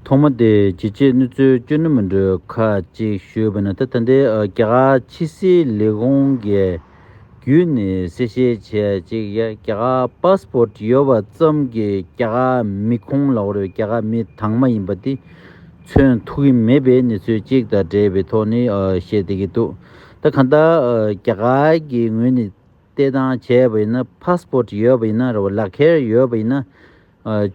ཐོག་མ་དེ་ཇི་བྱས་ནུས་ཚོད་སྤྱོད་ནུས་མི་འདྲོད་ཁ་ཅིག་ཞུས་པ་ནི་ད་ལྟ་འདི་རྒྱ་གར་ཕྱི་སྲིད་ལས་ཁུངས་ཀྱི་བརྒྱུད་ནས་གསལ་བཤད་བྱས་གཅིག་ཡ་རྒྱ་གར Passport ཡོད་པ་ཙམ་གྱིས་རྒྱ་གར་མི་ཁོང་ལ་བོར་བའི་རྒྱ་གར་མི་དྭངས་མ་ཡིན་པ་དེ་མཚོན་ཐུབ་ཀྱི་མེད་པའི་གནས་ཚུལ་གཅིག་དང་འབྲེལ་བའི་ཐོག་ནས་བཤད་བསྡད་ཀྱི་འདུག་ད་གང་ལྟར་རྒྱ་གར་གྱི་ངོས་ནས་ལྟས་དང་བྱས་པ་ཡིན་ན Passport ཡོད་པ་ཡིན་ན་རེད་བ་ལག་ཁྱེར་ཡོད་པ་ཡིན་ན།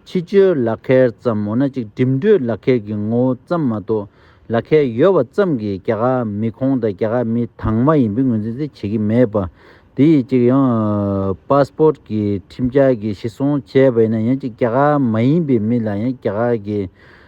ཕྱི་བཅོལ་ལག་ཁྱེར་ཙམ་འོ་ན་གཅིག་འགྲིམ་འགྲུལ་ལག་ཁྱེར་གྱི་ངོ་བོ་ཙམ་མ་གཏོགས་ལག་ཁྱེར་ཡོད་བ་ཙམ་གྱིས་རྒྱ་གར་མི་ཁོང་དང་རྒྱ་གར་མི་དྭངས་མ་ཡིན་པའི་ངོས་འཛིན་དེ་བྱེད་ཀྱི་མེད་པ། དེ་ཡིས་གཅིག་ཡང Passport གྱི་ཁྲིམས་འཆར་གྱི་གཞི་བཟུང་བྱས་པ་ཡིན་ན་ཡང་གཅིག་རྒྱ་གར་མ་ཡིན་པའི་མི་ལ་ཡང་རྒྱ་གར་གྱི་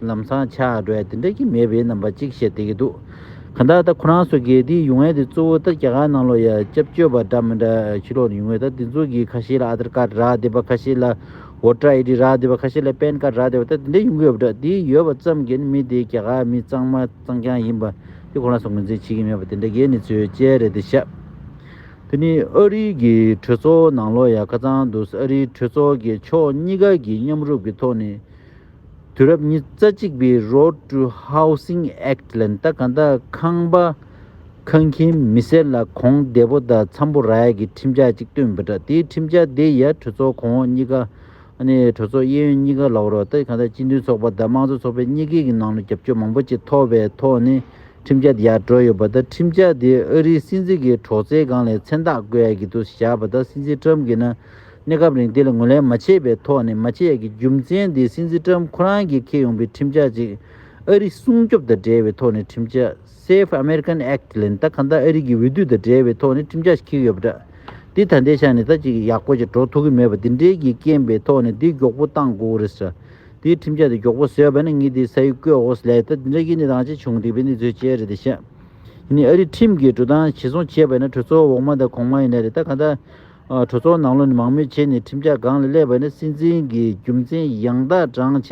ལམ་སང་ཆ་སྒྲོས་དེ་འདྲ་ཀྱི་མེད་པའི་རྣམ་པ་གཅིག་བཤད་དེ་གི་འདུག་ག་འདའ་ད་ཁོ་རང་སོ་གེ་དེའི་ཡུང་ཝན་དེ་གཙོ་བོ་ད་རྒྱ་གར་ནང་ལོ་ཡ་སྐྱབས་བཅོལ་བ་འདྲ་མི་འདྲ་ཕྱི་ལོག་ནས་ཡུང་ཝན་ད་དེ་ཚོ་གི་ཁ་ཤས་ལ Aadhar Card རག་བསྡད་པ་ཁ་ཤས་ལ Voter ID རག་བསྡད་པ་ཁ་ཤས་ལ Pan Card རག་བསྡད་པ་ད་དེ་འདྲ་ཡོང་གི་ཡོད་པ་འདྲ་དེ་ཡོད་པ་ཙམ་གྱིས་མི་དེ་རྒྱ་གར་མི་གཙང་མ་གཙང་རྐྱང་ཡིན་པ་དེ་ཁོ་རང་སོ་ངོས་འཛིན་བྱེད་ཀྱི་མེད་པ་དེ་འདྲ་ཀྱི་གནས་ཚུལ་བཅས་རེད་དེ་ཤ་དེ་ནི་ཨ་རི་གི་གྲོས་ཚོགས་ནང་ལོ་ཡ་ཁ་ཙང་འདུག་ཨ་རིའི་གྲོས་ཚོགས་ཀྱི་ཕྱོགས་གཉིས་ཀ་གི་མཉམ་རུབ་ཀྱི་ཐོག་ནས། དུས་རབས་ཉི་རྩ་གཅིག་པའི Road to Housing Act ལན་ད་ག་ད་ཁང་པ་ཁང་ཁྱིམ་མི་སེར་ལ་གོང་བདེ་པོ་དང་འཚམ་པོ་རག་ཡ་གི་ཁྲིམས་འཆར་གཅིག་བཏོན་འབུད་དྲ་དེའི་ཁྲིམས་འཆར་དེ་ཡ་གྲོས་ཚོགས་གོང་འོག་གཉིས་ཀ་ནས་གྲོས་ཚོགས་གཡས་གཡོན་གཉིས་ཀ་ལ་བོ་རོག་ད་ག་ད་སྤྱི་མཐུན་ཚོགས་པ་དང་དམངས་གཙོ་ཚོགས་པའི་གཉིས་ཀའི་གི་ནང་ལ་རྒྱབ་སྐྱོར་མང་པོ་ཅིག་ཐོབ་པའི་ཐོག་ནས་ཁྲིམས་འཆར་དེ་ཡ་གྲོས་ཡོད་པ་ད་ཁྲིམས་འཆར་དེ་ཨ་རིའི་སྲིད་འཛིན་གི་གྲོགས་ཚའི་སྒང་ལས་མཚན་རྟགས་བཀོད་ཡ་གི་འདུག་བཞག་པ་ད་སྲིད་འཛིན Trump གི་ན་གནས་སྐབས་རིང་དེ་ལ་ངོས་ལེན་མ་བྱས་པའི་ཐོག་ནས་མཱ་ཅེ་ཡཱ་གི་རྒྱུ་མཚན་དེ་སྲིད་འཛིན་ཀྲམ་ཁོ་རང་གིས་འཁེལ་ཡོང་པའི་ཁྲིམས་འཆར་གཅིག་ཨ་རི་སྲུང་སྐྱོབ་དང་འབྲེལ་བའི་ཐོག་ནས་ཁྲིམས་འཆར Safe American Act ལེན་སྟངས་གང་དག་ཨ་རི་གི་འོས་བསྡུ་དང་འབྲེལ་བའི་ཐོག་ནས་ཁྲིམས་འཆར་ཞིག་འཁེལ་གྱི་ཡོད་པ་འདྲ། འདི་ད་ལྟའི་ཆ་ནས་ད་ཅིག་ཡག་པོ་ཞིག་འགྲོ་ཐུབ་ཀྱི་མེད་པ་འདི་འདྲའི་གིས་རྐྱེན་པའི་ཐོག་ནས་འདི་མགྱོགས་པོ་གཏང་དགོས་རེད་ཟེར། འདིའི་ཁྲིམས་འཆར་དེ་མགྱོགས་པོ་བཟོས་པ་ནི་ངས་འདི་ས་ཡིག་བཀོད་འོག་སླད་ད་འདི་འདྲ་གིས་ནི་རང་ཅག་བྱུང་སྡིག་པའི་ནི་རྫུས་བྱས་རེད་ད་བཤད། ཡིན་ནའི་ཨ་རི་ཁྲིམས་ཀྱི་འགྲོ་སྟངས་ཇི་སོང་བྱས་པ་ཡིན་ན་གྲོས་ཚོགས་འོག་མ་དང་གོང་མ་ཡིན་ན་རེད་ད་གང་དག་གྲོས་ཚོགས་ནང་བློ་ནི་མང་མོས་བྱས་ནས་ཁྲིམས་འཆར་གང་ལ་སླེབས་པ་ནི་སྲིད་འཛིན་གྱི་རྒྱུ་མཚན་ཡང་དག་བགྲང་བྱས་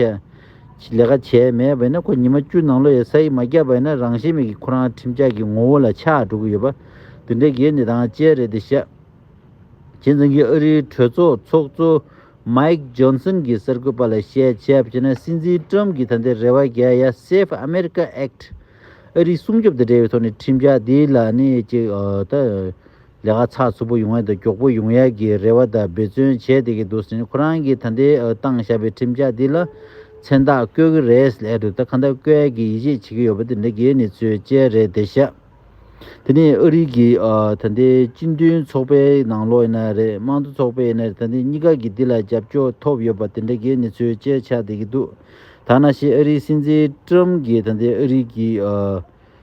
ལས་ཀ་བྱས་མེད་པས་ན་ཁོ་ཉི་མ་བཅུ་ནང་བློ་ཡི་ས་ཡིག་མ་བརྒྱབ་པས་ན་རང་ཤེད་མེད་ཀྱི་ཁོ་རང་ཁྲིམས་འཆར་གྱི་ངོ་བོ་ལ་ཆགས་འགྲོ་གི་ཡོད་པ་འདི་འདྲའི་སྒེར་ནི་དང་བཅས་རེད་དེ་ཞབས་ཇེན་ཙང་གིས་ཨ་རིའི་གྲོས་ཚོགས་ཚོགས་གཙོ Mike Johnson གྱི་གསར་འགོད་པ་ལ་བཤད་ཕྱིར་བཤད་ན་སྲིད་འཛིན Trump གྱིས་ད་ལྟའི་རེ་བ་རྒྱལ་ཡ Save America Act ཨ་རིའི་སྲུང་སྐྱོབ་དང་འབྲེལ་བའི་ཐོག་ནས་ཁྲིམས་འཆར་འདི་ལ་ནི་ཅིག་ལྟ་ལས་ཀ་ཚགས་ཚུད་པོ་ཡོང་ཡ་དང་མགྱོགས་པོ་ཡོང་ཡ་གི་རེ་བ་དང་འབད་བརྩོན་བྱས་བསྡད་ཀྱི་འདུག་ཟེར་ནས་ཁོ་རང་གིས་ད་ལྟའི་བཏང་བཞག་པའི་ཁྲིམས་འཆར་འདི་ལ་མཚན་རྟགས་བཀོད་ཀྱི་རེད་ཟེར་ལས་དྲུག་ད་ག་འདྲ་བཀོད་ཡ་གི་ཡིད་ཆེས་བྱེད་ཀྱི་ཡོད་པ་དེ་འདྲ་གི་ནི་ཚོའི་དཔྱད་རེད་བསྡད་བཞག་དེ་ནི་ཨ་རིག་གི་ད་ལྟའི་སྤྱི་མཐུན་ཚོགས་པའི་ནང་ལོགས་ཡིན་ན་རེད་དམངས་གཙོ་ཚོགས་པའི་ཡིན་ན་རེད་ད་འདི་གཉིས་ཀ་གི་འདི་ལ་རྒྱབ་སྐྱོར་ཐོབ་ཡོད་པ་དེ་འདྲ་གི་ནི་ཚོའི་དཔྱད་བྱས་བསྡད་ཀྱི་འདུག་ད་ང་ཤེས་ཨ་རིའི་སྲིད་འཛིན་ཀྲུམ་གྱིས་ད་ལྟའི་ཨ་རིག་གི།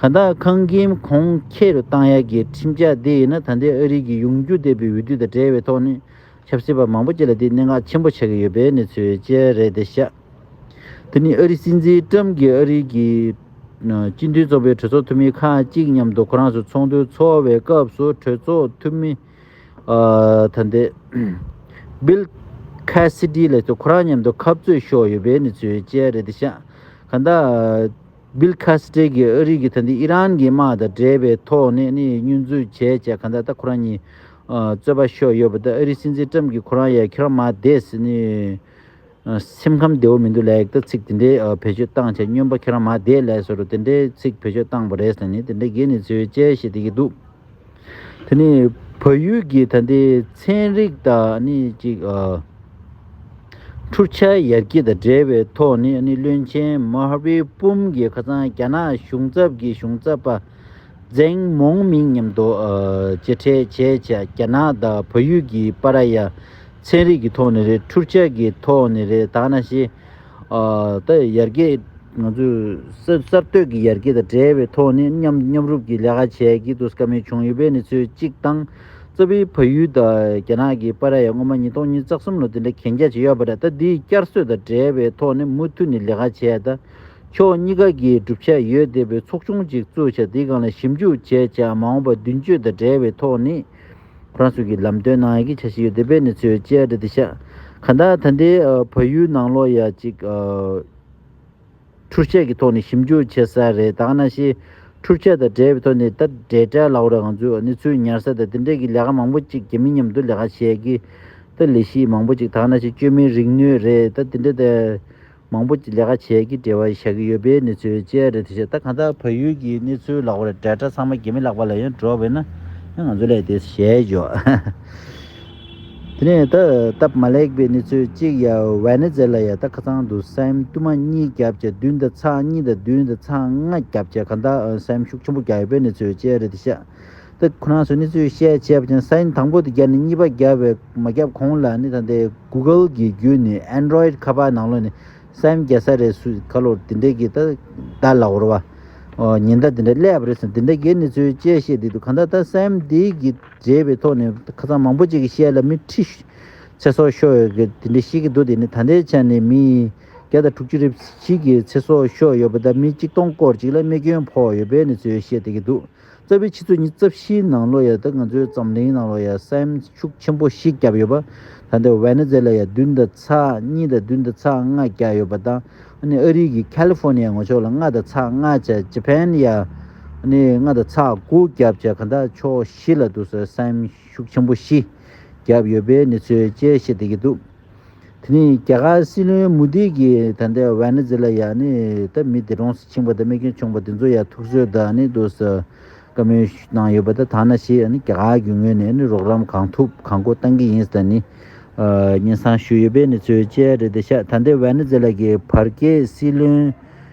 གང་དག་ཁང་ཁྱིམ་གོང་ཁྱེར་རུ་བཏང་ཡ་གི་ཁྲིམས་འཆར་འདི་ཡིན་ན་ད་ལྟའི་ཨ་རིའི་གི་ཡུང་རྒྱུ་སྡེ་བའི་འོས་བསྡུ་དང་འབྲེལ་བའི་ཐོག་ནས་ཆབ་སྲིད་པ་མང་པོ་བཅས་ལ་འདི་གནད་འགག་ཆེན་པོ་ཆགས་ཀྱི་ཡོད་པའི་གནས་ཚུལ་བཅས་རེད་དེ་ཤ་དེ་ནི་ཨ་རི་སྲིད་འཛིན་ཀྲམ་གྱིས་ཨ་རིའི་གི་སྤྱི་མཐུན་ཚོགས་པའི་གྲོས་ཚོགས་འཐུས་མི་ཁག་ཅིག་མཉམ་དུ་ཁོ་རང་ཚོའི་ཚོགས་འདུ་འཚོག་བའི་སྐབས་སུ་གྲོས་ཚོགས་འཐུས་མི་ད་ལྟའི Bill Cassidy ལས་ཚོ་ཁོ་རང་མཉམ་དུ་ཁབ་རྩོད་ཤོག་ཡོད་པའི་གནས་ཚུལ་བཅས་རེད་དེ་ཤ་གང་དག Bill Cassidy གྱིས་ཨ་རིག་གི་ད་འདི་ཨི་རན་གྱི་དམག་དང་འབྲེལ་བའི་ཐོག་ནས་ནི་བསྙོན་འཛུགས་བྱས་བྱས་ག་འདྲ་ད་ཁོ་རང་ཉིད་རྩོད་པ་ཤོར་ཡོད་པ་ད་ཨ་རིའི་སྲིད་འཛིན Trump གྱིས་ཁོ་རང་ཡ་ཁྱེད་རང་མ་དེས་ནི་སེམས་ཁམས་བདེ་བོ་མི་འདུག་ལེགས་ད་ཚིག་དེ་འདྲའི་བེད་སྤྱོད་བཏང་བྱས་བསྙོན་པ་ཁྱེད་རང་མ་དེས་ལས་སོ་རུ་དེ་འདྲའི་ཚིག་བེད་སྤྱོད་བཏང་བ་རེད་ཟེར་ནས་དེ་འདྲའི་དགེ་ནི་ཚོའི་དཔྱད་ཤེས་དེ་གྱིས་འདུག། དེ་ནི་བལ་ཡུལ་གྱི་ད་ལྟའི་ཚན་རིག་དང་འཕྲུལ་ཆས་ཡར་རྒྱས་དང་འབྲེལ་བའི་ཐོག་ནས་བློན་ཆེན་མཱ་ཝེ་པུམ་གྱི་ཁ་སང་རྒྱ་ནག་གཞུང་ཚབ་ཀྱི་གཞུང་ཚབ་པ་ཛེང་མོང་མིང་མཉམ་དུ་མཇལ་འཕྲད་བྱས་རྗེས་རྒྱ་ནག་དང་བལ་ཡུལ་གྱིས་པཱ་ར་ཡཱ་ཚན་རིག་གི་ཐོག་ནས་རེད་འཕྲུལ་ཆས་ཀྱི་ཐོག་ནས་རེད་ད་ནཱ་ཞེ་ད་ཡར་རྒྱས་ང་ཚོས་གསར་གཏོད་ཀྱི་ཡར་རྒྱས་དང་འབྲེལ་བའི་ཐོག་ནས་མཉམ་རུབ་ཀྱི་ལས་ཀ་བྱས་ཀྱི་འདུག་ཀ་མེད་བྱུང་ཡོད་པའི་གནས་ཚུལ་གཅིག་དང། རྩ་བའི་ཕ་ཡུལ་དང་རྒྱ་ནག་གི་པ་ར་ཡ་སྔོན་མ་ཉིས་སྟོང་གཉིས་རྩ་གསུམ་ལོ་དེ་འདྲའི་གན་རྒྱ་བྱས་ཡོད་པ་རེད་ད་འདིའི་བསྐྱར་གསོད་དང་འབྲེལ་བའི་ཐོག་ནས་མུ་མཐུད་ནས་ལས་ཀ་བྱས་ད། ཕྱོགས་གཉིས་ཀ་གིས་གྲུབ་ཆ་ཡོད་བསྡད་པའི་ཚོགས་ཆུང་གཅིག་བཙུགས་བྱ་འདིའི་སྒང་ལ་ཞིབ་འཇུག་བྱས་བྱ་མ་འོངས་པ་མདུན་སྐྱོད་དང་འབྲེལ་བའི་ཐོག་ནས། རང་ཚུགས་ཀྱི་ལམ་སྟོན་གནང་ཡག་གི་བྱ་བཞིན་ཡོད་དེ་བས་ནི་ཚོས་བཅད་སྒྲ་དེ་ཤ་ག་འདའ་ད་འདའི་བ་ཡུལ་ནང་ལོག་ཡ་ཅིག་འཕྲུར་ཆས་ཀྱི་ཐོག་ནས་ཞིབ་འཇུག་བྱེད་ས་རེད་ད་གནའ་ཤེས་འཕྲུར་ཆས་དང་བྲལ་བའི་ཐོག་ནས་ད་འབྲེལ་དྲ་ལག་རེད་གང་ཚུལ་ནི་ཚུལ་ཉར་ས་དང་དེ་འབྲེལ་གྱི་ལས་ཀ་མང་པོ་ཅིག་གི་མི་མཉམ་དུ་ལས་ཀ་བྱས་ཀྱི་ད་ལས་གཞི་མང་པོ་ཅིག་ད་གནའ་ཤེས་བཅོས་མིན་རིག་ནུས་རེད་ད་དེ་འདྲ་ད་མང་པོ་ལས་ཀ་བྱས་ཀྱི་བྲེལ་བ་བཞག་གི་ཡོད་པའི་གནས་ཚུལ་བཅས་རེད་དེ་བྱས་ད་གང་ལྟར་བལ་ཡུལ་གྱི་གནས་ཚུལ་ལགས་པར་འབྲེལ་དྲ་ཚང་མ་དགེ་མི་ལགས་པ་ལ་ཡང་འགྲོ་བས་ན་ཡང་ང་ཚོ་ལས་དེ་ཞལ་འཇོག་དེ་ནས་ད་སྟབས་མ་ལེགས་པའི་གནས་ཚུལ་གཅིག་ཡ་བྷལ་ནེ་ཛེ་ལ་ཡ་ད་ཁ་ཚང་དུ་སེམས་བསྟུད་མ་གཉིས་བརྒྱབ་བྱས་བདུན་ད་ཚང་གཉིས་ད་བདུན་ད་ཚང་ལྔ་བརྒྱབ་བྱས་གང་ལྟར་སེམས་ཤུགས་ཆེན་པོ་རྒྱག་ཡོད་པའི་གནས་ཚུལ་བཅས་རེད་དེ་བྱས་ཏེ། ཁོ་རང་ཚོས་ནི་ཚོས་བཤད་བྱས་པ་ཅན་སཱིན་དང་པོ་དེ་བརྒྱབ་ནས་གཉིས་པ་བརྒྱབ་བས་མ་བརྒྱབ་གོང་ལ་ནི་ད་ལྟའི Google གི་བརྒྱུད་ནི Android ཁ་པར་ནང་ལོ་ནི་སཱིན་བརྒྱ་ས་རེད་སུས་ཁ་ལོར་དེ་འདྲའི་གི་ད་ད་ལག་འོར་བ་ཉེན་བརྡ་དེ་འདྲ་སླེབས་པ་རེད་ཟེར་དེ་འདྲ་གི་ནི་ཚོས་དཔྱད་བཤད་བསྡིགས་འདུག་གང་ལྟར་ད་སཱིན་འདི་གི་རྗེས་པའི་ཐོག་ནི་ཁ་ཚང་མང་པོ་ཅིག་གི་བཤད་ལ་མི་ཁྲི་ཚེ་སྲོག་ཤོར་ཡོད་གི་དེ་འདྲ་ཤེས་ཀྱི་འདུག་དེ་ནི་ད་ལྟའི་ཆར་ནི་མི་ཡི་བརྒྱ་དང་དྲུག་ཅུ་རེ་བཞི་གི་ཚེ་སྲོག་ཤོར་ཡོད་པ་ད་མི་གཅིག་སྟོང་སྐོར་ཅིག་ལ་རྨས་སྐྱོན་ཕོག་ཡོད་པས་ནི་ཚོས་བཤད་བསྡད་ཀྱི་འདུག་རྩ་བའི་ཕྱི་ཚོད་གཉིས་རྩ་བཞིའི་ནང་ལོ་ཡ་དང་ང་ཚོའི་འཛམ་གླིང་ནང་ལོ་ཡ་སེམས་ཤུགས་ཆེན་པོ་ཞིག་བརྒྱབ་ཡོད་པ། ད་ལྟ་ཝེ་ནེ་ཛེ་ལ་ཡ་བདུན་དང་ཚ་གཉིས་དང་བདུན་དང་ཚ་ལྔ་བརྒྱག་ཡོད་པ་དང་ཨ་རིའི་གི་ཁལ་ལི་ཧྥོ་ནི་ཡ་ངོ་ཕྱོགས་ལ་ལྔ་དང་ཚ་ལྔ་བརྒྱ་ཇི་ཕན་ཡ་ནི་ལྔ་དང་ཚ་དགུ་བརྒྱ་བརྒྱ་ག་འདྲ་ཕྱོགས་བཞི་ལ་འདུག་ས་སེམས་ཤུགས་ཆེན་པོ་ཞིག་བརྒྱབ་ཡོད་པའི་གནས་ཚུལ་བཅས་བཤད་བསྡད་ཀྱི་འདུག། དེ་ནས་རྒྱ་གར་སྲིད་བློན་མུ་དྷི་གིས་ད་ལྟའི་ཝེ་ནེ་ཛེ་ལ་ཡ་ནི་ད་མི་དེ་གྲོངས་སུ་ཕྱིན་པ་དང་རྨས་སྐྱོན་བྱུང་བ་དེ་ཚོ་ཡ་ཐུགས་གསོས་ད་ནི་འདུག་ས་བཀའ་མོལ་གནང་ཡོད་པ་ད་ཐང་ན་ཞེས་རྒྱ་གར་གྱི་ངོས་ནས་ནི་རོགས་རམ་གང་ཐུབ་གང་མཁོ་གཏང་གི་ཡིན་ས་ད་ནི་སྙན་གསང་ཞུས་ཡོད་པའི་ནི་ཚོའི་དཔྱད་རེད་དེ་ཤ་ད་ལྟའི་ཝེ་ནེ་ཛེ་ལ་གི་བར་བརྒལ་སྲིད་བློན་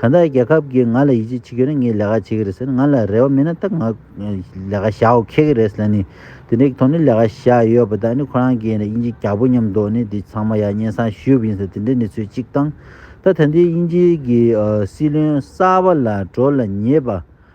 གང་ལྟར་རྒྱལ་ཁབ་ཀྱིས་ང་ལ་ཡིད་ཆེས་བྱེད་ཀྱི་རེད་ངས་ལས་ཀ་བྱེད་ཀྱི་རེད་ཟེར་ང་ལ་རེ་བ་མེད་ན་ད་ང་ལས་ཀ་བྱའོ་ཁེགས་ཀྱི་རེད་ཟེར་ནས་དེ་འདྲའི་དོན་དུ་ལས་ཀ་བྱས་ཡོད་པ་དག་ནི་ཁོ་རང་གིས་དབྱིན་ཇི་རྒྱག་པོ་སྙམ་མདོག་ནི་འདི་ཚང་མ་ཡང་སྙན་སང་ཞུས་པ་ཡིན་ཟེར་དེ་འདྲའི་གནས་ཚུལ་གཅིག་དང། ད་ད་ལྟའི་དབྱིན་ཇི་གི་སྲིད་བློན་གསར་པ་ལ་བགྲོ་ལ་ཉེ་བ་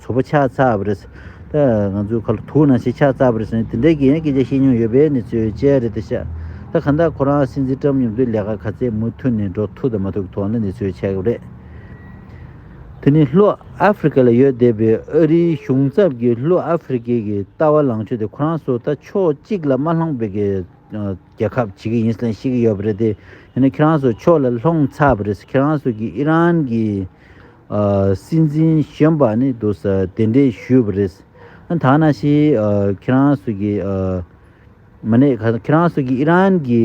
ཚོ་པ་ཆགས་ཚར་བ་རེད། ང་ཚོའི་ཁ་ལོ་ཐུག་ན་ཞིག་ཆགས་ཚར་བ་རེད་ཟེར་ནས་དེ་འདྲའི་གི་ཡང་སྐད་ཆ་བཤད་མྱོང་ཡོད་པའི་ནི་ཚོའི་དཔྱད་རེད་དེ་ཤག་ད་གང་ལྟར་ཁོ་རང་སྲིད་འཛིན་བཀྲམ་ཡོང་དུས་ལས་ཀ་ག་ཚད་མུ་མཐུད་ནས་འགྲོ་ཐུག་དང་མ་ཐུག་གི་ཐོག་ན་ནི་ཚོའི་ཆགས་གི་རེད། དེ་ནི་ལྷོ་ཨ་ཧྥི་རི་ཀ་ལ་ཡོད་བསྡད་པའི་ཨ་རིའི་གཞུང་ཚབ་ཀྱི་ལྷོ་ཨ་ཧྥི་རི་ཀའི་གི་ལྟ་བ་ལངས་ཕྱོད་དེ་ཁོ་རང་ཚོ་ད་ཕྱོགས་གཅིག་ལ་མ་ལྷོང་བའི་གི་རྒྱལ་ཁབ་བྱེད་གི་ཡིན་ཟེར་ནས་བཤད་གི་ཡོད་པ་རེད་དེ་ཡིན་ན་ཁྱེད་རང་ཚོ་ཕྱོགས་ལ་ལྷོང་ཚར་བ་རེད་ཁྱེད་རང་ཚོ་གི་ཨི་རན་གི་སྲིད་འཛིན་གཞོན་པ་ནི་འདུག་ས་དེ་འདྲས་ཞུས་པ་རེད། ད་ན་ཞིག་ཁྱེད་རང་ཚོ་གིས་མ་ནས་ཁྱེད་རང་ཚོ་གིས་ཨི་རན་གྱི་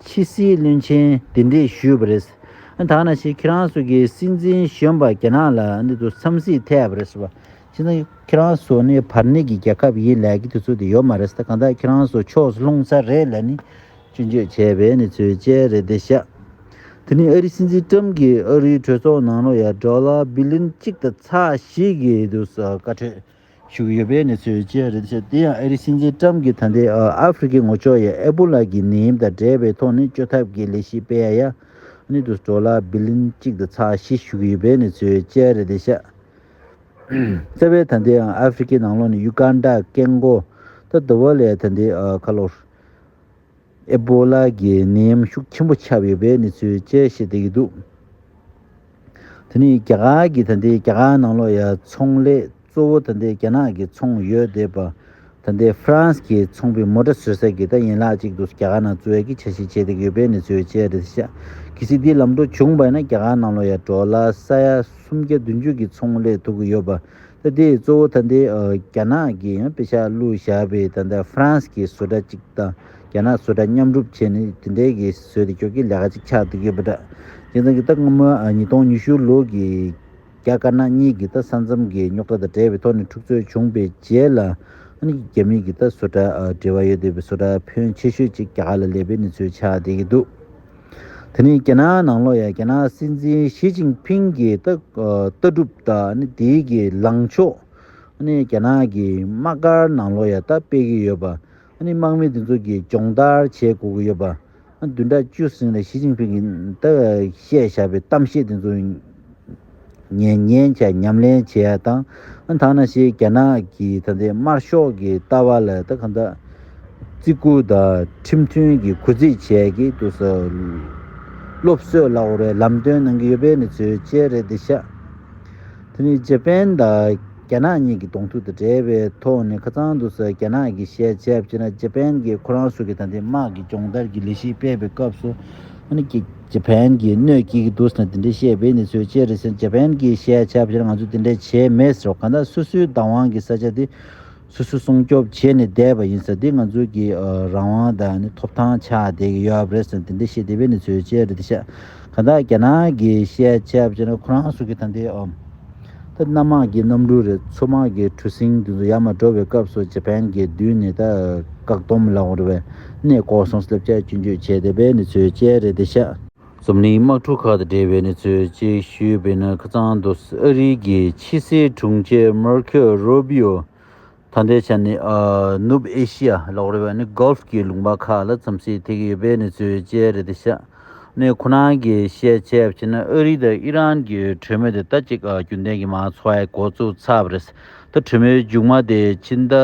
ཕྱི་སྲིད་བློན་ཆེན་དེ་འདྲས་ཞུས་པ་རེད། ད་ན་ཞིག་ཁྱེད་རང་ཚོ་གིས་སྲིད་འཛིན་གཞོན་པ་རྒྱ་ནག་ལ་འདུག་འཚམས་གཟིགས་ཐེབས་པ་རེད། ཅི་ན་ཁྱེད་རང་ཚོ་ནི་བར་གནས་ཀྱི་རྒྱལ་ཁབ་ཡིན་ལས་ཀྱི་དུས་ཚོད་དེ་ཡོད་མ་རེད་ས་གང་དག་ཁྱེད་རང་ཚོ་ཕྱོགས་སུ་ལྷུང་ཚར་རེད་ལས་ནི་སྐྱོན་བརྗོད་བྱས་པའི་ནི་ཚོད་བཅད་རེད་དེ་ཤག་དེ་ནི་ཨ་རི་སྲིད་འཛིན་ཀྲམ་གྱི་ཨ་རིའི་གྲོས་ཚོགས་ནང་ལོ་ཡར་འདྲོ་ལ་བི་ལིན་གཅིག་དང་ཚ་ཞིག་གི་དུས་སུ་བཀའ་ཁྲོལ་ཞུ་གི་ཡོད་པའི་ནི་ཚོད་བཅད་རེད་དེ་ཤག་དེ་ཡང་ཨ་རི་སྲིད་འཛིན་ཀྲམ་གྱི་ད་ལྟའི་ཨ་ཧྥི་རི་ཀའི་ངོ་ཅོག་ཡ་ཨེ་པོ་ལ་གྱི་ནད་ཡམས་དང་འབྲེལ་བའི་ཐོག་ནི་བཅོས་ཐབས་ཀྱི་ལས་གཞི་སྤེལ་ཡ་ཡ་ནི་དུས་སུ་འདྲོ་ལ་བི་ལིན་གཅིག་དང་ཚ་ཞིག་ཞུ་གི་ཡོད་པའི་ནི་ཚོད་བཅད་རེད་དེ་ཤག། བརྩེ་བའི་ད་འདིའང་ཨ་ཧྥེ་རི་ཁའི་ནང་ལོགས་ནས་ཡུ་ཀཱན་ཏཱ་ཀེ་མགོ་ཏཱ་དཱུ་ཝཱ་ལའི་ད་འདི་ཁ་ལོ་རུ། ཨེ་པོ་ལཱ་གི་ནད་ཡམས་ཤུགས་ཆེན་པོ་ཁྱབ་ཡོད་པའི་གནས་ཚུལ་བཅས་ཤེས་བསྡད་ཀྱི་འདུག་དེ་ནི་རྒྱ་གར་གྱི་ད་འདི་རྒྱ་གར་ནང་ལོགས་ཡ་ཚོང་ལས་གཙོ་བོ་ད་འདི་རྒྱ་ནག་གི་ཚོང་ཡོད་བསྡད་པ་ད་ལྟའི་ཧྥ་རན་སི་གྱི་ཚོང་པའི་མོ་དྲ་ཟོས་ས་གི་ད་ཡན་ལག་ཅིག་འདུག་རྒྱ་གར་ནང་ཙུའེ་ཀི་ཆ་ཤས་ཆེ་དེ་གི་ཡོད་པའི་ནི་ཙུའེ་ཅེ་རེད་ཤག་གི་སི་དེའི་ལམ་འགྲོ་བྱུང་བས་ན་རྒྱ་གར་ནང་ལོ་ཡ་གྲོ་ལ་ས་ཡ་སུམ་བརྒྱ་བདུན་བཅུ་གི་ཚོང་ལས་ཐུག་གི་ཡོད་པ་ད་དེ་གཙོ་བོ་ད་ལྟའི་རྒྱ་ནག་གི་པེ་ཤ་ལུ་ཞག་པའི་ད་ལྟའི་ཧྥ་རན་སི་གི་ཟོས་དྲ་ཅིག་ད་རྒྱ་ནག་ཟོས་དྲ་མཉམ་སྒྲུབ་བྱས་ནི་དེ་འདྲའི་གི་ཟོས་དེ་ཀྱོག་གི་ལས་ཀ་ཅིག་ཆགས་འདུག་ཡོད་པ་དྲ་རྒྱ་ཚང་གི་ད་སྔ་མོ་ཉིས་སྟོང་ཉི་ཤུ་ལོ་གི་རྒྱ་དཀར་ནག་གཉིས་ཀྱི་ད་ས་མཚམས་ཀྱི་རྙོག་དྲ་དང་བྲལ་བའི་ཐོག་ནས་འཁྲུག་རྩོད་བྱུང་པའི་རྗེས་ལ། རྒྱ་མི་གྱི་ད་བཟོ་གྲྭ་འབྲེལ་བ་ཡོད་འདོད་པའི་བཟོ་གྲྭ་ཕོན་ཆེ་ཤོས་གཅིག་རྒྱ་གར་ལ་ལས་པའི་གནས་ཚུལ་ཆགས་བསྡད་ཀྱི་འདུག་དེ་ནི་རྒྱ་ནག་ནང་ལོགས་ཡ་རྒྱ་ནག་སྲིད་འཛིན་ཞི་ཅིང་ཕིང་གི་ད་ལྟ་གྲུབ་དང་དེའི་གི་ལངས་ཕྱོགས། རྒྱ་ནག་གི་དམག་སྒར་ནང་ལོགས་ཡ་ད་སྤེལ་གྱི་ཡོད་པ། དམག་མི་དེ་ཚོ་གི་སྦྱོང་བརྡར་བྱེད་དགོས་ཀྱི་ཡོད་པ། བདུན་ཕྲག་བཅུ་ཟིན་ལ་ཞི་ཅིང་ཕིང་གིས་ད་བཤད་བཞག་པའི་གཏམ་བཤད་དེ་ཚོ་ཉན་ཉན་བྱས་ཉམས་ལེན་བྱས་ཡག་དང་དག་ན་ཞེས་རྒྱ་ནག་གི་ད་ལྟའི་དམར་ཤོག་གི་ལྟ་བ་ལ་ད་གང་དག་བརྩི་བཀུར་དང་ཁྲིམས་མཐུན་གྱི་གུས་བརྩི་བྱས་ཀྱི་འདུག་ས་སློབ་གསོས་བླ་འོར་བའི་ལམ་སྟོན་གནང་གི་ཡོད་པའི་ནི་ཚོའི་དཔྱད་རེད་འདི་ཤག་དེ་ནི་ཇེ་པན་དང་རྒྱ་ནག་གཉིས་ཀྱི་གདོང་ཐུག་དང་འབྲེལ་བའི་ཐོག་ནས་ཁ་ཚང་དུ་ཟེར་རྒྱ་ནག་གིས་བཤད་བྱས་པ་ཅི་ན་ཇེ་པན་གྱིས་ཁོ་རང་སུ་གི་དང་དེ་དམག་གི་སྦྱོང་བརྡར་གྱི་ལས་གཞི་སྤེལ་བའི་སྐབས་སུ་ཨ་ནི་ཇེ་པན་གྱིས་གནོད་སྐྱེལ་གྱི་འདུག་ཟེར་ན་དེ་འདྲའི་བཤད་པའི་གནས་ཚུལ་ཅི་རེད་ཟེར་ན་ཇེ་པན་གྱིས་བཤད་བྱས་པ་ཅི་ན་ང་ཚོས་དེ་འདྲའི་བྱས་མེད་ཟེར་བ་གང་ལྟར་སོ་སོའི་བདག་དབང་གི་ས་ཆ་དེ་སོ་སོ་སྲུང་སྐྱོབ་བྱས་ནས་བསྡད་པ་ཡིན་ཟེར་འདི་ང་ཚོའི་གི་རང་དབང་དང་ནི་ཐོབ་ཐང་ཆགས་བསྡད་ཀྱི་ཡོད་རེད་ཟེར་འདི་འདི་བཤད་འདི་བས་ནི་ཚོའི་བཅད་རེད་འདི་བཤད་གང་དག་རྒྱ་ནག་གི་བཤད་བྱས་པ་བྱས་ན་ཁོ་རང་སུ་གི་ད་འདི་ཨོ། ད་གནའ་དམག་གི་གནམ་གྲུ་རེད་མཚོ་དམག་གི་གྲུ་གཟིངས་དེ་ཚོ་ཡར་མ་འགྲོ་བའི་སྐབས་སུ་ཇ་པན་གྱི་མདུན་ནས་ད་བཀག་སྡོམ་ལ་འོ་རེ་བས་ནས་ལྐོག་སོང་སླེབས་བྱ་སྐྱོན་བརྗོད་བྱས་འདི་བས་ནི་ཚོའི་བཅད་རེད་འདི་བཤད། འཛམ་གླིང་དམག་འཁྲུག་ཁག་དང་འབྲེལ་བའི་གནས་ཚུལ་བཅས་ཞུས་པའི་ནང་ཁ་ཚང་དུ་ཨ་རིའི་རྒྱལ་ཕྱི་སྲིད་དྲུང་ཆེ་མར་ཁོ་རུ་བྷི་ཡོ་དང་འབྲེལ་བྱས་ནས་ནུབ་ཨེ་ཤི་ཡ་ལ་འོར་བའི Gulf གྱི་ལུང་པ་ཁག་ལ་འཚམས་གཟིགས་ཐེག་ཡོད་པའི་གནས་ཚུལ་བཅས་རེད་དེ་ཤ་གནད་ཁོ་ན་གྱི་བཤད་ཆས་བྱས་ན་ཨ་རི་དང་ཨི་རན་གྱི་གྲོས་མོལ་དེ་ད་ཅིག་རྒྱུན་ལྡན་གྱི་མ་འཚོ་བའི་འགོ་བཙུགས་ཚར་བ་རེད་ད་གྲོས་མོལ་མཇུག་མ་དེ་ཕྱི་ཟླ།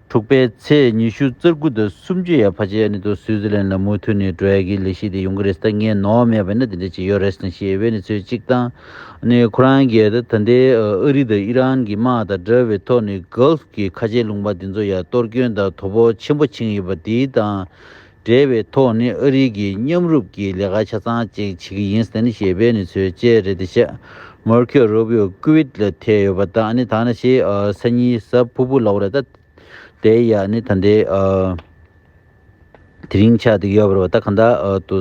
དྲུག་པའི་ཚེས་ཉི་ཤུ་རྩ་དགུ་དང་སུམ་ཅུ་ཡར་བྷ་ཇེ་ཨ་ནི་ཏོ་སུའུ་ཛི་ལན་ལ་མུ་མཐུད་ནས་འགྲོ་ཡ་གི་ལས་ཤིག་དེ་ཡོང་གི་རེད་ད་ངས་ནོར་བ་མེད་པ་ན་དེ་འདྲ་ཅིག་ཡོད་རེད་ཟེར་ཞེས་བྷེ་ནི་ཚོས་ཅིག་བཏང་ནས་ཁོ་རང་རྒྱལ་ད་ད་ལྟའི་ཨ་རི་དང་ཨི་རན་གྱི་དམག་དང་འདྲ་བའི་ཐོག་ནས Gulf གྱི་ཁ་ཆེ་ལུང་པ་དེ་ཚོ་ཡར་གཏོར་སྐྱོན་དང་དོ་ཕོག་ཆེན་པོ་འཆིང་ཡོད་པ་དེའི་དང་འབྲེལ་བའི་ཐོག་ནས་ཨ་རིའི་གིས་མཉམ་རུབ་ཀྱི་ལས་ཀ་ཆ་ཚང་ཅིག་བྱེད་ཀྱི་ཡིན་ཟེར་ཞེས་པའི་ནི་ཚོས་བཅད་རེད་དེ་ཤ་མོར་ཁྱོད་རོ་བྷིའོ་ཀི་ཝིད་ལ་ཐེ་ཡོད་པ་དང་ནི་ད་ནི་ཤེ་ས་ཉི་ས་ཕུ་བུ་ལོག་རེད་ད་དེ་ཡ་ནི་ད་འདི་དེ་རིང་ཆ་དེ་ཡོད་པར་བ་ད་ག་འདྲ་དུ།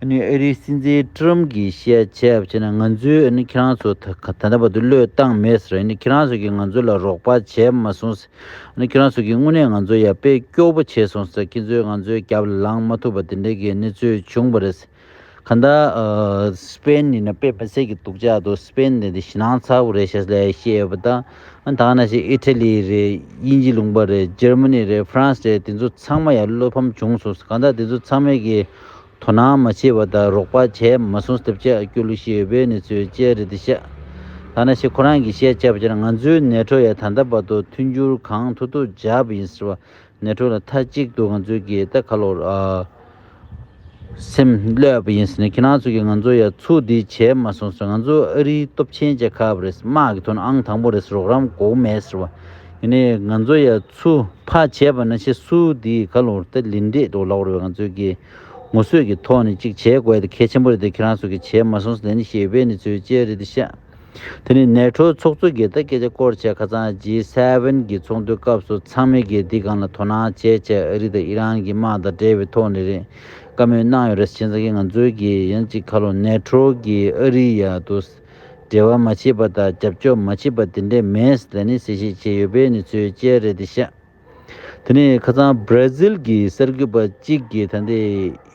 ཨ་རིའི་སྲིད་འཛིན་ཀྲི་རམ་གྱིས་བཤད་ཆེད་བྱས་ན་ང་ཚོས་ཁྱེད་རང་ཚོ་ད་ལྟ་བར་དུ་བློས་བཏང་མེད་ཟེར་ཁྱེད་རང་ཚོ་གིས་ང་ཚོ་ལ་རོགས་པ་བྱས་མ་སོང་ཟེར་ཁྱེད་རང་ཚོ་གིས་དངོས་གནས་ང་ཚོ་ཡར་སྤེལ་སྐྱོ་བོ་བྱས་སོང་ཟེར་ཁྱེད་ཚོས་ང་ཚོའི་རྒྱབ་ལ་ལངས་མ་ཐུབ་པ་དེ་འདྲའི་གནས་ཚུལ་བྱུང་བ་རེད་ག་ད་སྤེན་ནི་ནས་སྤེན་པ་ཟེར་གྱི་འདུག་ཅག་ཏུ་སྤེན་དེ་ནི་ཞེད་སྣང་ཚ་བོ་རེད་ཞེས་ལས་བཤད་ཡོད་པ་དང། ཨ་འཐང་ན་ཞིག་ཨི་ཐ་ལི་རེད་དབྱིན་ཇི་ལུང་པ་རེད་ཇར་མ་ནི་རེད་ཧྥ་རན་སི་རེད་དེ་ཚོ་ཚང་མ་ཡང་བློ་ཕམ་བྱུང་སོང་གང་ལྟར་དེ་ཚོ་ཚང་མས་ཀྱིས་དོ་སྣང་མ་བྱས་པ་དང་རོགས་པ་བྱས་མ་སོང་ཟློས་བྱ་རྒྱུ་ལུགས་ཤིག་ཡོད་པའི་ནི་ཚོས་བཅད་རེད་དེ་ཤ་ཐང་ན་ཞིག་ཁོ་རང་གིས་བཤད་བྱ་བ་ཅེ་ན་ང་ཚོའི་ནད་ཁྲོ་ཡ་ད་ལྟ་བར་དུ་མཐུན་འགྱུར་གང་ཐུག་ཐུག་བྱ་བ་ཡིན་ཟེར་བ་ནས་གྲོལ་ལ་མཐའ་གཅིག་ཏུ་ང་ཚོའི་གི་ད་ག་ལོར་སེམས་བསླད་པ་ཡིན་ཟེར་ནས་ཁྱེད་རང་ཚོ་གི་ང་ཚོ་ཡ་ཚུ་འདི་བྱས་མ་སོང་ཟེར་ང་ཚོ་ཨ་རིའི་སྟོབས་ཆེན་རྒྱལ་ཁབ་རེད་དམག་གི་དོན་ཨང་དང་པོ་རེད་ཟེར་རོགས་རམ་གོ་མེད་ཟེར་བ་ཡིན་ནའི་ང་ཚོ་ཡ་ཚུ་ཕ་བྱས་པ་ན་ཆེ་སུ་འདི་ག་ལོར་ད་ལིན་འདྲེས་འདུག་ལོག་རེད་བས་ང་ཚོའི་གི་ངོ་སོས་གི་ཐོག་ནས་གཅིག་བྱས་དགོས་ད་གལ་ཆེན་པོ་རེད་ད་ཁྱེད་རང་ཚོ་གི་བྱས་མ་སོང་ཟེར་ལན་ཞེས་ཡོད་པའི་ནི་ཚོའི་དཔྱད་རེད་ད་ཤ། དེ་ནི་ནེ་ཁྲོའི་ཚོགས་གཙོས་དགེ་ལྟ་སྐད་ཆ་སྐོར་བྱས་ཁ་ཚང་ཇི་སེ་ཝེན་གྱི་ཚོགས་འདུའི་སྐབས་སུ་ཚང་མས་དགེ་སྡིག་གང་ལ་དོ་སྣང་བྱེད་ཆེད་ཨ་རི་དང་ཨི་རན་གྱི་དམག་དང་འབྲེལ་བའི་ཐོག་ནས་རེད་བཀའ་མོལ་གནང་ཡོད་རེད་ཅེས་ཟེར་གི་ང་ཚོའི་གི་ཡིན་གཅིག་ཁ་ལོ་ནེ་ཁྲོ་གིས་ཨ་རི་ཡ་དུ་འབྲེལ་བ་མ་བྱེད་པ་དང་རྒྱབ་སྐྱོར་མ་བྱེད་པ་དེ་འདྲས་མེད་ཟེར་ནས་གསལ་བཤད་བྱས་ཡོད་པས་ནི་ཚོའི་དཔྱད་རེད་དེ་ཤེས། དེ་ནས་ཁ་ཚང་བྷར་ཛིལ་གྱི་གསར་འགོད་པ་གཅིག་གིས་ད་ལྟའི་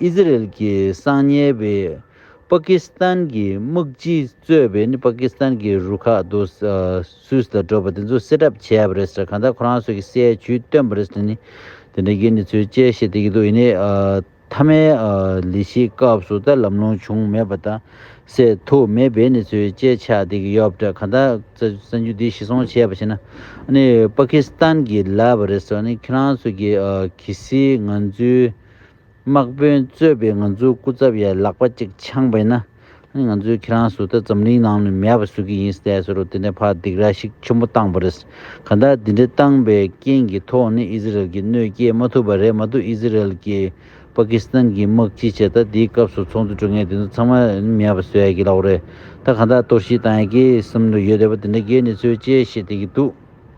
ཨི་ཟི་རེལ་གྱི་གསང་ཉལ་བས་པཱ་ཀི་སི་ཐན་གྱི་དམག་སྤྱི་གཙོས་པའི་ནི་པཱ་ཀི་སི་ཐན་གྱི་རུ་ཁག་དུ་སུད་སིར་བགྲོད་པ་དེ་ཚོ་སེལ་གྲབས་བྱས་པ་རེད་ཟེར་གང་ལྟར་ཁོ་རང་ཚོ་གིས་སའི་བྱུས་བཏོན་པ་རེད་ཟེར་ནས་དེ་འདྲ་གྱི་ནི་ཚུལ་དཔྱད་བཤད་བསྡད་ཀྱི་འདུག་ཡིན་ནའི་མཐའ་མའི་ལས་གཞིའི་སྐབས་སུ་ད་ལམ་ལོང་བྱུང་མེད་པ་དང་སེལ་ཐུབ་མེད་པའི་གནས་ཚུལ་བཅས་ཆགས་བསྡད་ཀྱི་ཡོད་པ་འདྲ་ག་ད་གསར་འགྱུར་འདི་ཤི་སོང་བྱས་པ་ཤེས་ན་ནི་པ་ཁི་སི་ཐན་གྱི་ལབ་པ་རེད་ཟེར་ནས་ཁྱེད་རང་ཚོ་གི་གི་སི་ང་ཚོའི་དམག་དཔོན་གཙོས་པའི་ང་ཚོའི་སྐུ་ཚབ་ཡ་ལག་པ་གཅིག་འཆང་པ་ཡིན་ན། ང་ཚོས་ཁྱེད་རང་སུ་ད་འཛམ་གླིང་ནང་ནས་མེད་པ་ཟོ་གི་ཡིན་ཟེར་ཟེར་རོ་དེ་ནས་ཕར་སྡིགས་ར་ཞིག་ཆེན་པོ་བཏང་བ་རེད། གང་ལྟར་དེ་འདྲ་བཏང་པའི་རྐྱེན་གྱི་ཐོག་ནས་ཨི་ཟི་རལ་གྱིས་གནོད་སྐྱེལ་མ་ཐུབ་པ་རེད་མ་གཏོགས་ཨི་ཟི་རལ་གྱིས་པ་ཀི་སི་ཐན་གྱི་དམག་སྤྱི་བྱས་ད་དེའི་སྐབས་སུ་ཚོགས་འདུ་གྲོལ་མཁན་དེ་ཚོ་ཚང་མ་མེད་པ་ཟོས་གི་ལགས་རེད། ད་གང་ལྟར་གཏོར་བཤིག་བཏང་ཡ་ཀི་སི་ཐན་དུ་ཡོད་དེ་བ་དེ་འདྲ་འགའི་གནས་ཚུལ་བཅས་བཤད་བསྡད་ཀྱི་འདུག།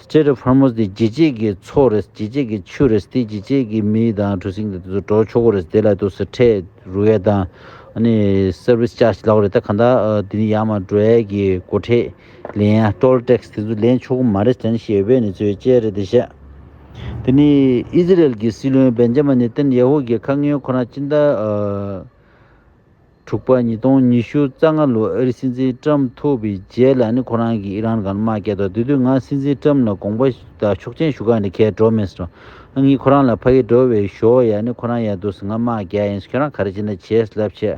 སྤྱིར་ཧྥ་ར་མོས་འདི་ཇི་བྱེད་ཀྱི་མཚོ་རེད་ཇི་བྱེད་ཀྱི་ཆུ་རེད་དེ་ཇི་བྱེད་ཀྱི་མི་དང་གྲུ་གཟིངས་དེ་ཚོ་འགྲོ་ཆོག་གི་རེད་དེ་ལ་དུ་སི་ཐྲས་རུ་ཝེ་དང Service Charge ལག་རེད་ད་གང་ད་དེ་ནི་ཡང་མ་འགྲོ་ཡས་ཀྱི་སྒོ་ཁྲེས་ལེན་ཡ Toll Tax དེ་ཚོ་ལེན་ཆོག་གི་མ་རེད་དྲན་ཤེས་ཡོད་པས་ནི་ཚོས་དཔྱད་རེད་དེ་བཤད། དེ་ནི་ཨི་ཟི་རལ་གྱི་སྲིད་བློན་བེན་ཇ་མ་ནི་ཏན་ཡ་ཧུ་གྱི་ཁ་ངན་ཁོ་རང་ཅི་འདྲ། དྲུག་པ་ཉིས་སྟོང་ཉི་ཤུ་རྩ་ལྔ་ལོའི་ཨ་རི་སྲིད་འཛིན་ཏྲམ་ཐུབ་པའི་རྗེས་ལ་ནི་ཁོ་རང་གིས་ཨི་རན་ག་ལ་མ་བསྐྱལ་ཐོག་དེ་དུས་ང་སྲིད་འཛིན་ཏྲམ་ལ་དགོངས་པ་དང་ཤུགས་ཆེན་ཞུ་ཁ་ནི་ཁྱེད་འགྲོ་མི་སྲིད། ཨ་ངས་ཁོ་རང་ལ་ཕ་གི་འགྲོ་བའི་ཞོ་ཡ་ནི་ཁོ་རང་ཡ་འདུག་སྲིད་ང་མ་བསྐྱལ་ཡིན་སྲིད་ཁྱོད་རང་ག་རེ་བྱེད་ན་བྱས་སྲིད་ལབ་ཆེད་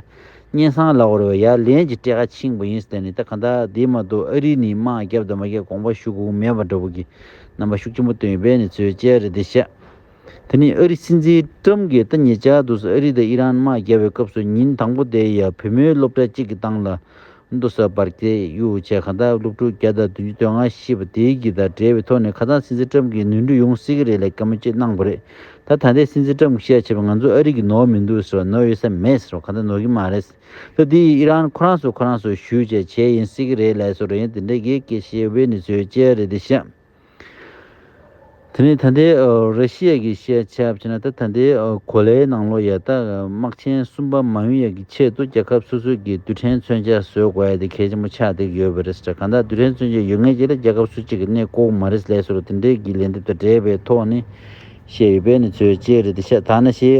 སྙན་སང་ལག་འོར་བའི་ཡ་ལན་གྱི་སྤྲད་ཁ་ཆིངས་པོ་ཡིན་སྲིད་ད་ནི་ད་ག་འདའ་དེ་མ་གཏོགས་ཨ་རི་ནི་མ་བསྐྱལ་དང་མ་བསྐྱལ་དགོངས་པ་ཞུ་དགོངས་མེད་པ་འདྲ་བོ་གི་རྣམ་པ་ཤུགས་ཆེན་པོ་བཏོན་ཡོད་པས་ནི་ཚོས་བཅད་རེ་འདི་བཤད། དེ་ནི་ཨ་རི་སྲིད་འཛིན་ཀྲུམ་གྱིས་ད་ཉེ་ཆར་དུ་ཨ་རི་དང་ཨི་རན་དམག་བརྒྱབ་པའི་སྐབས་སུ་ཉིན་དང་པོ་དེའི་ཡར་བུ་མོའི་སློབ་གྲྭ་གཅིག་གི་ཏང་ལ་ཏུ་ས་བར་སྐྱེལ་ཡུལ་བྱས་ཁ་བརྡ་སློབ་ཕྲུག་བརྒྱ་དང་བདུན་ཅུ་དོན་ལྔ་ཤི་བ་དེའི་གི་དང་འབྲེལ་བའི་ཐོག་ནས་ཁ་སང་སྲིད་འཛིན་ཀྲུམ་གྱིས་ནུས་འབྲུ་ཡོང་སྲིད་ཀྱི་རེད་ལ་གད་མོ་ཅི་གནང་པ་རེད་ད་ད་ལྟའི་སྲིད་འཛིན་ཀྲུམ་གྱིས་ཤེས་ར་བྱས་པ་ང་ཚོ་ཨ་རི་གི་ནོར་མི་འདུག་ཟེར་བ་ནོར་ཡོད་ས་མེད་ཟེར་བ་ག་ད་ནོར་གྱི་མ་རེད་ཟེར་དེ་ཡིས་ཨི་རན་ཁོ་རང་སོ་ཁོ་རང་སོ་ཞུས་བྱས་བྱས་ཡིན་སྲིད་ཀྱི་རེད་ལས་སོ་རེད་དེ་འདྲ་གི་གི་ཤེས་བའི་ནི་ཚོའི་སྐྱེ་ར་རེད་དེ་ཤ། དེ་ནི་ད་ལྟའི་རེ་ཤི་ཡའི་གི་ཤེས་བྱ་བྱས་ན་ད་ད་ལྟའི་གོ་ལའི་ནང་ལོ་ཡག་ཏག་དམག་ཆེན་གསུམ་པ་མ་ཡོང་ཡག་གི་ཆེད་དུ་རྒྱལ་ཁབ་སོ་སོའི་གི་རྡུལ་ཕྲན་མཚོན་ཆ་བཟོས་དགོས་ཡ་དེ་གལ་ཆེན་པོ་ཆགས་བསྡད་གི་ཡོད་པ་རེད་ཟེར་གང་དག་རྡུལ་ཕྲན་མཚོན་ཆ་ཡོད་ངེས་ཀྱི་ལ་རྒྱལ་ཁབ་སུ་གཅིག་གི་གནས་ལྐོག་མ་རེད་ལས་ཟེར་དེ་འདྲའི་གི་ལན་དེ་ད་འདྲའི་བའི་ཐོག་ནས་བཤད་ཡོད་པས་ནི་ཚོས་བཅད་རེད་དེ་ཤ་ད་ན་ཤེས་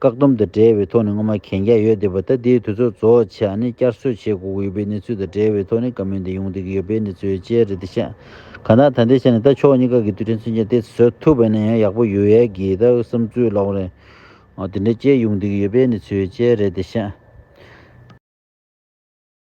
བཀག་སྡོམ་དང་འབྲེལ་བའི་ཐོག་ནས་སྔོན་མ་གན་རྒྱ་ཡོད་བསྡད་པ་ད་ལྟའི་དུས་ཚོད་གཙོ་བོ་ཆ་ནི་བསྐྱར་གསོ་བྱེད་དགོས་ཀྱི་ཡོད་པའི་གནས་ཚུལ་དང་འབྲེལ་བའི་ཐོག་ནས་བཀའ་མོལ་འདི་ཡོང་བསྡད་ཀྱི་ཡོད་པའི་གནས་ཚུལ་བཅས་རེད་དེ་ཤ་ག་ན་ད་འདི་ཆ་ནས་ད་ཕྱོགས་གཉིས་ཀ་གི་དུས་དྲན་ཚུན་ཆད་དེ་བཟོ་ཐུབ་པ་ནས་ཡང་ཡག་པོ་ཡོད་ཡས་ཀྱི་ད་བསམ་ཚུལ་ལོག་རེད། དེ་འདྲ་བཅས་ཡོང་བསྡད་ཀྱི་ཡོད་པའི་གནས་ཚུལ་བཅས་རེད་དེ་ཤ།